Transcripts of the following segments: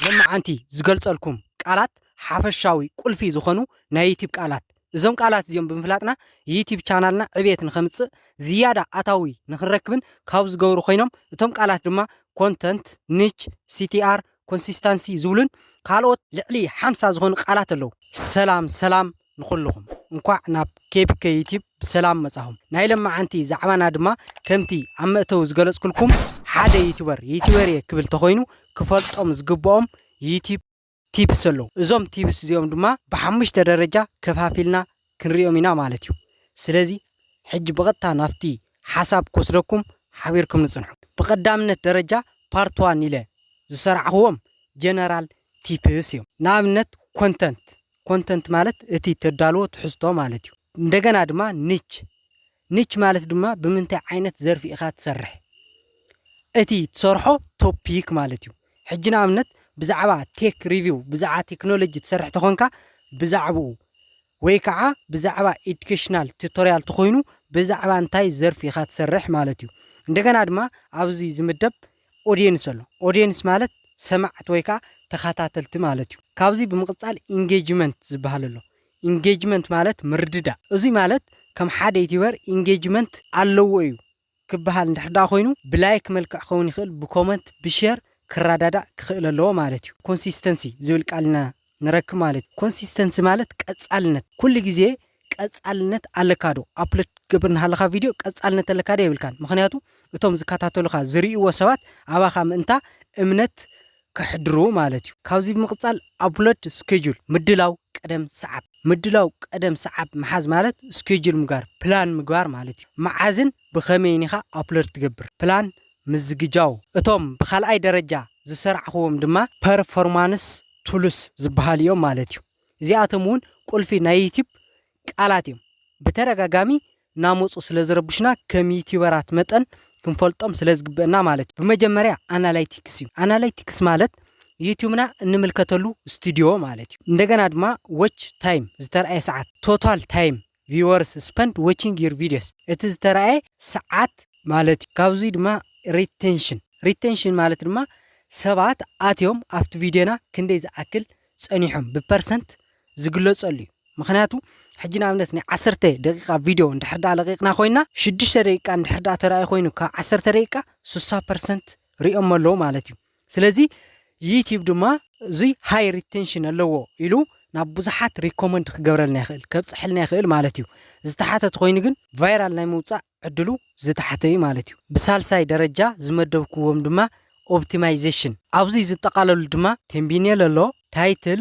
ሎማዓንቲ ዝገልፀልኩም ቃላት ሓፈሻዊ ቁልፊ ዝኾኑ ናይ ዩቲብ ቃላት እዞም ቃላት እዚኦም ብምፍላጥና ዩቲብ ቻናልና ዕብየት ንኸምፅእ ዝያዳ ኣታዊ ንኽንረክብን ካብ ዝገብሩ ኮይኖም እቶም ቃላት ድማ ኮንተንት፣ ኒች፣ ሲቲኣር፣ ኮንሲስታንሲ ዝብሉን ካልኦት ልዕሊ ሓምሳ ዝኾኑ ቃላት ኣለው። ሰላም ሰላም ንኹሉኹም እንኳዕ ናብ ኬቢከ ዩቲብ ብሰላም መጻኹም ናይ ለማዓንቲ ዛዕባና ድማ ከምቲ ኣብ መእተዊ ዝገለጽኩልኩም ሓደ ዩቱበር ዩቱበር እየ ክብል ተኾይኑ ክፈልጦም ዝግብኦም ዩቲብ ቲፕስ ኣለዉ እዞም ቲፕስ እዚኦም ድማ ብሓሙሽተ ደረጃ ከፋፊልና ክንሪኦም ኢና ማለት እዩ ስለዚ ሕጂ ብቐጥታ ናብቲ ሓሳብ ክወስደኩም ሓቢርኩም ንጽንሑ ብቐዳምነት ደረጃ ፓርት ዋን ኢለ ዝሰራዕኽዎም ጀነራል ቲፕስ እዮም ንኣብነት ኮንተንት ኮንተንት ማለት እቲ ተዳልዎ ትሕዝቶ ማለት እዩ። እንደገና ድማ ኒች ኒች ማለት ድማ ብምንታይ ዓይነት ዘርፊ ኢኻ ትሰርሕ እቲ ትሰርሖ ቶፒክ ማለት እዩ። ሕጂ ንኣብነት ብዛዕባ ቴክ ሪቪው ብዛዕባ ቴክኖሎጂ ትሰርሕ ተኾንካ ብዛዕባኡ ወይ ከዓ ብዛዕባ ኤዱኬሽናል ቱቶሪያል ተኾይኑ ብዛዕባ እንታይ ዘርፊ ኢኻ ትሰርሕ ማለት እዩ። እንደገና ድማ ኣብዚ ዝምደብ ኦድየንስ ኣሎ። ኦድየንስ ማለት ሰማዕቲ ወይ ከኣ ተኻታተልቲ ማለት እዩ። ካብዚ ብምቕጻል ኢንጌጅመንት ዝበሃል ኣሎ። ኢንጌጅመንት ማለት ምርድዳእ። እዙይ ማለት ከም ሓደ ዩቲበር ኢንጌጅመንት ኣለዎ እዩ ክበሃል እንድሕር ደኣ ኮይኑ ብላይክ መልክዕ ክኸውን ይኽእል፣ ብኮመንት፣ ብሼር ክረዳዳእ ክኽእል ኣለዎ ማለት እዩ። ኮንሲስተንሲ ዝብል ቃል ኢና ነረክ ማለት ኮንሲስተንሲ ማለት ቀጻልነት ኩሉ ግዜ ቀጻልነት ኣለካ ዶ ኣፕሎድ ክትገብር እናሃለኻ ቪድዮ ቀጻልነት ኣለካ ዶ የብልካን ምክንያቱ እቶም ዝከታተሉኻ ዝርእይዎ ሰባት ኣባኻ ምእንታ እምነት ከሕድሩ ማለት እዩ ካብዚ ብምቕጻል ኣፕሎድ ስኬጁል ምድላው ቀደም ሰዓብ ምድላው ቀደም ሰዓብ ምሓዝ ማለት ስኬጁል ምግባር ፕላን ምግባር ማለት እዩ መዓዝን ብኸመይን ኢኻ ኣፕሎድ ትገብር ፕላን ምዝግጃው እቶም ብካልኣይ ደረጃ ዝሰርዕኽዎም ድማ ፐርፎርማንስ ቱልስ ዝበሃሉ እዮም ማለት እዩ። እዚኣቶም እውን ቁልፊ ናይ ዩቲዩብ ቃላት እዮም። ብተደጋጋሚ እናመፁ ስለ ዝረብሹና ከም ዩቲዩበራት መጠን ክንፈልጦም ስለ ዝግበአና ማለት እዩ። ብመጀመርያ ኣናላይቲክስ እዩ። ኣናላይቲክስ ማለት ዩቲዩብና እንምልከተሉ ስቱድዮ ማለት እዩ። እንደገና ድማ ዎች ታይም ዝተርኣየ ሰዓት፣ ቶታል ታይም Viewers spent watching your videos እቲ ዝተራእየ ሰዓት ማለት እዩ። ካብዙይ ድማ Retention Retention ማለት ድማ ሰባት ኣትዮም ኣብቲ ቪድዮና ክንደይ ዝኣክል ጸኒሖም ብፐርሰንት ዝግለጸሉ እዩ። ምክንያቱ ሕጂ ንኣብነት ናይ ዓሰርተ ደቂቃ ቪድዮ እንድሕር ደኣ ለቂቕና ኮይና ሽዱሽተ ደቂቃ እንድሕር ደኣ ተራእዩ ኮይኑ ካብ ዓሰርተ ደቂቃ ስሳ ፐርሰንት ሪኦሞ ኣለዉ ማለት እዩ። ስለዚ ዩቲዩብ ድማ እዙይ ሃይ ሪቴንሽን ኣለዎ ኢሉ ናብ ብዙሓት ሪኮመንድ ክገብረልና ይኽእል ከብፅሐልና ይኽእል ማለት እዩ ዝተሓተ ተኮይኑ ግን ቫይራል ናይ ምውፃእ ዕድሉ ዝተሓተ እዩ ማለት እዩ ብሳልሳይ ደረጃ ዝመደብክዎም ድማ ኦፕቲማይዜሽን ኣብዚ ዝጠቃለሉ ድማ ቴምቢኔል ኣሎ ታይትል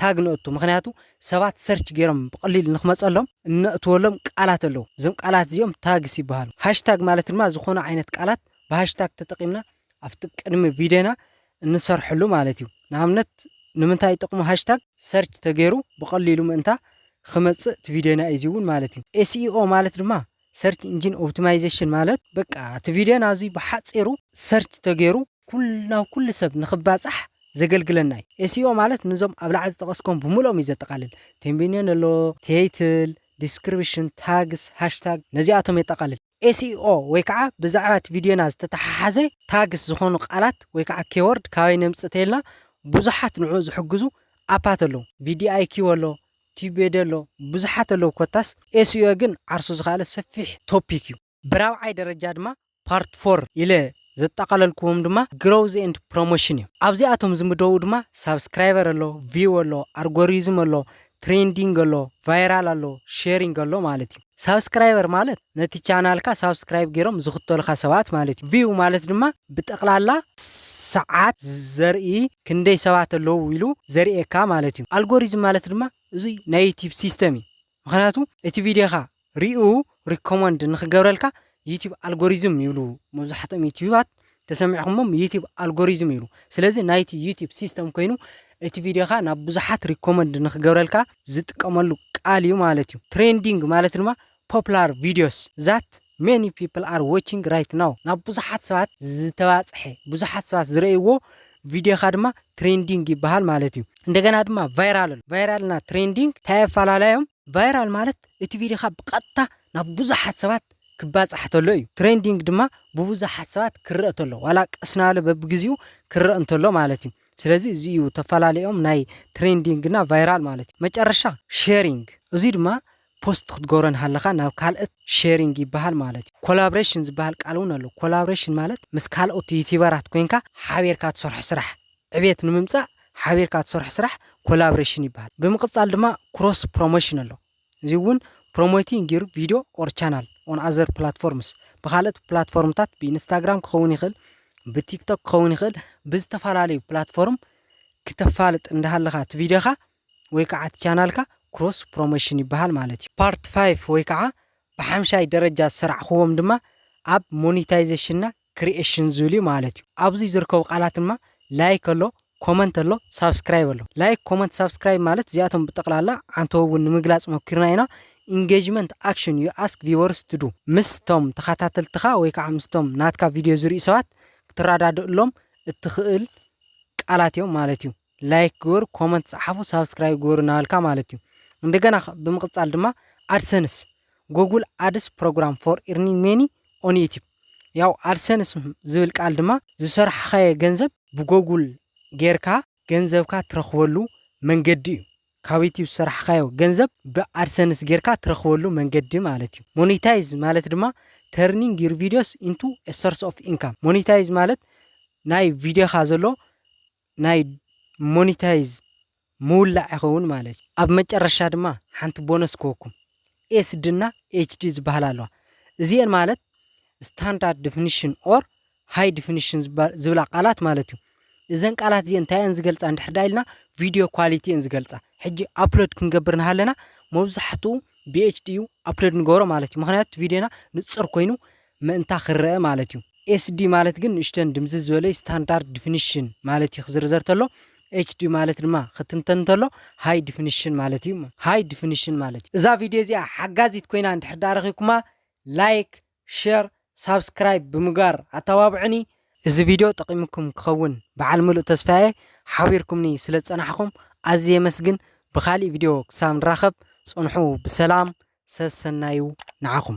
ታግ ነእቱ ምክንያቱ ሰባት ሰርች ጌሮም ብቀሊሉ ንክመጸሎም እነእትወሎም ቃላት ኣለዉ እዞም ቃላት እዚኦም ታግስ ይበሃሉ ሃሽታግ ማለት ድማ ዝኮነ ዓይነት ቃላት ብሃሽታግ ተጠቂምና ኣብቲ ቅድሚ ቪድዮና እንሰርሐሉ ማለት እዩ ንኣብነት ንምንታይ ጥቅሙ ሃሽታግ ሰርች ተገይሩ ብቀሊሉ ምእንታ ክመጽእ እቲ ቪድዮና እዩ እዚውን ማለት እዩ ኤስኢኦ ማለት ድማ ሰርች እንጂን ኦብትማይዘሽን ማለት በቃ እቲ ቪድዮና እዙይ ብሓፂሩ ሰርች ተገይሩ ኩሉ ናብ ኩሉ ሰብ ንክባፃሕ ዘገልግለና እዩ። ኤስኢኦ ማለት ንዞም ኣብ ላዕሊ ዝጠቐስኮም ብምልኦም እዩ ዘጠቓልል። ቴምቢኔን ኣሎ፣ ቴይትል፣ ዲስክሪብሽን፣ ታግስ፣ ሃሽታግ ነዚኣቶም የጠቓልል። ኤስኢኦ ወይ ከዓ ብዛዕባ እቲ ቪድዮና ዝተተሓሓዘ ታግስ ዝኾኑ ቃላት ወይ ከዓ ኬዎርድ ካበይ ነምፅእ ተይልና ብዙሓት ንዕኡ ዝሕግዙ ኣፓት ኣለዉ። ቪዲኣይኪው ኣሎ፣ ቲቤደ ኣሎ ብዙሓት ኣለዉ ኮታስ ኤስኢኦ ግን ዓርሱ ዝኸኣለ ሰፊሕ ቶፒክ እዩ። ብራብዓይ ደረጃ ድማ ፓርት ፎር ኢለ ዘጠቓለልክዎም ድማ ግሮውዝ ኤንድ ፕሮሞሽን እዮም። ኣብዚኣቶም ዝምደቡ ድማ ሳብስክራይበር ኣሎ፣ ቪው ኣሎ፣ ኣርጎሪዝም ኣሎ፣ ትሬንዲንግ ኣሎ፣ ቫይራል ኣሎ፣ ሼሪንግ ኣሎ ማለት እዩ። ሳብስክራይበር ማለት ነቲ ቻናልካ ሳብስክራይብ ጌሮም ዝኽተሉኻ ሰባት ማለት እዩ። ቪው ማለት ድማ ብጠቕላላ ሰዓት ዘርኢ ክንደይ ሰባት ኣለዉ ኢሉ ዘርእየካ ማለት እዩ። ኣልጎሪዝም ማለት ድማ እዙይ ናይ ዩቲብ ሲስተም እዩ። ምክንያቱ እቲ ቪድዮኻ ሪኡ ሪኮመንድ ንክገብረልካ ዩቲብ ኣልጎሪዝም ይብሉ መብዛሕትኦም ዩቲባት። ተሰሚዕኹሞም ዩቲብ ኣልጎሪዝም ኢሉ ስለዚ ናይቲ ዩቲብ ሲስተም ኮይኑ እቲ ቪድዮኻ ናብ ብዙሓት ሪኮመንድ ንክገብረልካ ዝጥቀመሉ ቃል እዩ ማለት እዩ ትሬንዲንግ ማለት ድማ ፖፕላር ቪድዮስ ዛት ሜኒ ፒፕል ኣር ዎቺንግ ራይት ናው ናብ ብዙሓት ሰባት ዝተባፅሐ ብዙሓት ሰባት ዝረእይዎ ቪድዮኻ ድማ ትሬንዲንግ ይበሃል ማለት እዩ እንደገና ድማ ቫይራል ቫይራልና ትሬንዲንግ እንታይ ኣፈላላዮም ቫይራል ማለት እቲ ቪድዮኻ ብቐጥታ ናብ ብዙሓት ሰባት ክባጻሕ ተሎ እዩ። ትሬንዲንግ ድማ ብብዙሓት ሰባት ክረእ ተሎ ዋላ ቀስ ናበለ በብግዚኡ ክረእ እንተሎ ማለት እዩ። ስለዚ እዚ እዩ ተፈላለዮም ናይ ትሬንዲንግ እና ቫይራል ማለት እዩ። መጨረሻ ሼሪንግ እዙይ ድማ ፖስት ክትገብሮ እንሃለኻ ናብ ካልእት ሼሪንግ ይበሃል ማለት እዩ። ኮላብሬሽን ዝበሃል ቃል እውን ኣሎ። ኮላብሬሽን ማለት ምስ ካልኦት ዩቲበራት ኮይንካ ሓቢርካ ትሰርሖ ስራሕ ዕቤት ንምምፃእ ሓቢርካ ትሰርሖ ስራሕ ኮላብሬሽን ይበሃል። ብምቅፃል ድማ ክሮስ ፕሮሞሽን ኣሎ። እዙይ እውን ፕሮሞቲንግ ዩር ቪድዮ ኦር ቻናል ኦን ኣዘር ፕላትፎርምስ ብካልኦት ፕላትፎርምታት ብኢንስታግራም ክኸውን ይኽእል፣ ብቲክቶክ ክኸውን ይኽእል፣ ብዝተፈላለዩ ፕላትፎርም ክተፋልጥ እንዳሃለኻ እቲ ቪድዮኻ ወይ ከዓ እቲ ቻናልካ ክሮስ ፕሮሞሽን ይበሃል ማለት እዩ። ፓርት ፋይፍ ወይ ከዓ ብሓምሻይ ደረጃ ዝሰራዕኹዎም ድማ ኣብ ሞኒታይዜሽንና ክሪኤሽን ዝብል እዩ ማለት እዩ ኣብዚ ዝርከቡ ቃላት ድማ ላይክ ኣሎ ኮመንት ኣሎ ሳብስክራይብ ኣሎ ላይክ ኮመንት ሳብስክራይብ ማለት እዚኣቶም ብጠቕላላ ዓንተው እውን ንምግላፅ ሞኪርና ኢና ኢንጌጅመንት ኣክሽን ዩ ኣስክ ቪወርስ ትዱ ምስቶም ተኸታተልትኻ ወይ ከዓ ምስቶም ናትካ ቪድዮ ዝሪኡ ሰባት ክትረዳድእሎም እትኽእል ቃላት እዮም ማለት እዩ ላይክ ግበሩ፣ ኮመንት ጸሓፉ፣ ሳብስክራይብ ግበሩ እናበልካ ማለት እዩ። እንደገና ብምቕጻል ድማ ኣድሰንስ ጎጉል ኣድስ ፕሮግራም ፎር ኢርኒንግ ሜኒ ኦን ዩቲብ ያው ኣድሰንስ ዝብል ቃል ድማ ዝሰርሓኻየ ገንዘብ ብጎጉል ጌርካ ገንዘብካ ትረኽበሉ መንገዲ እዩ። ካብ ዩቲብ ዝሰርሓኻዮ ገንዘብ ብኣድሰንስ ጌርካ ትረኽበሉ መንገዲ ማለት እዩ። ሞኒታይዝ ማለት ድማ ተርኒንግ ዩር ቪዲዮስ ኢንቱ ሶርስ ኦፍ ኢንካም ሞኒታይዝ ማለት ናይ ቪዲዮኻ ዘሎ ናይ ሞኒታይዝ ምውላዕ ይኸውን ማለት እዩ። ኣብ መጨረሻ ድማ ሓንቲ ቦነስ ክህኩም ኤስዲ እና ኤችዲ ዝበሃላ ኣለዋ። እዚኤን ማለት ስታንዳርድ ዲፊኒሽን ኦር ሃይ ዲፊኒሽን ዝብላ ቃላት ማለት እዩ። እዘን ቃላት እዚኤን እንታይ እየን ዝገልፃ እንድሕር ዳ ኢልና ቪድዮ ኳሊቲ እየን ዝገልፃ። ሕጂ ኣፕሎድ ክንገብር ንሃለና መብዛሕትኡ ብኤችዲ እዩ ኣፕሎድ ንገብሮ ማለት እዩ። ምክንያቱ ቪድዮና ንፅር ኮይኑ ምእንታ ክረኣ ማለት እዩ። SD ማለት ግን ንእሽተን ድምዝዝ ዝበለይ ስታንዳርድ ድፍንሽን ማለት እዩ ክዝርዘር ተሎ። HD ማለት ድማ ክትንተን ተሎ ሃይ ድፍንሽን ማለት እዩ እሞ ሃይ ድፍንሽን ማለት እዩ። እዛ ቪድዮ እዚኣ ሓጋዚት ኮይና እንድሕር ድኣ ረኺብኩማ ላይክ ሸር ሳብስክራይብ ብምግባር ኣተባብዑኒ። እዚ ቪድዮ ጠቒሙኩም ክኸውን ብዓል ምሉእ ተስፋ እየ። ሓቢርኩምኒ ስለ ዝጸናሕኹም ኣዝየ የመስግን። ብኻሊእ ቪድዮ ክሳብ ንራኸብ ጽንሑ ብሰላም ሰሰናዩ ንዓኹም።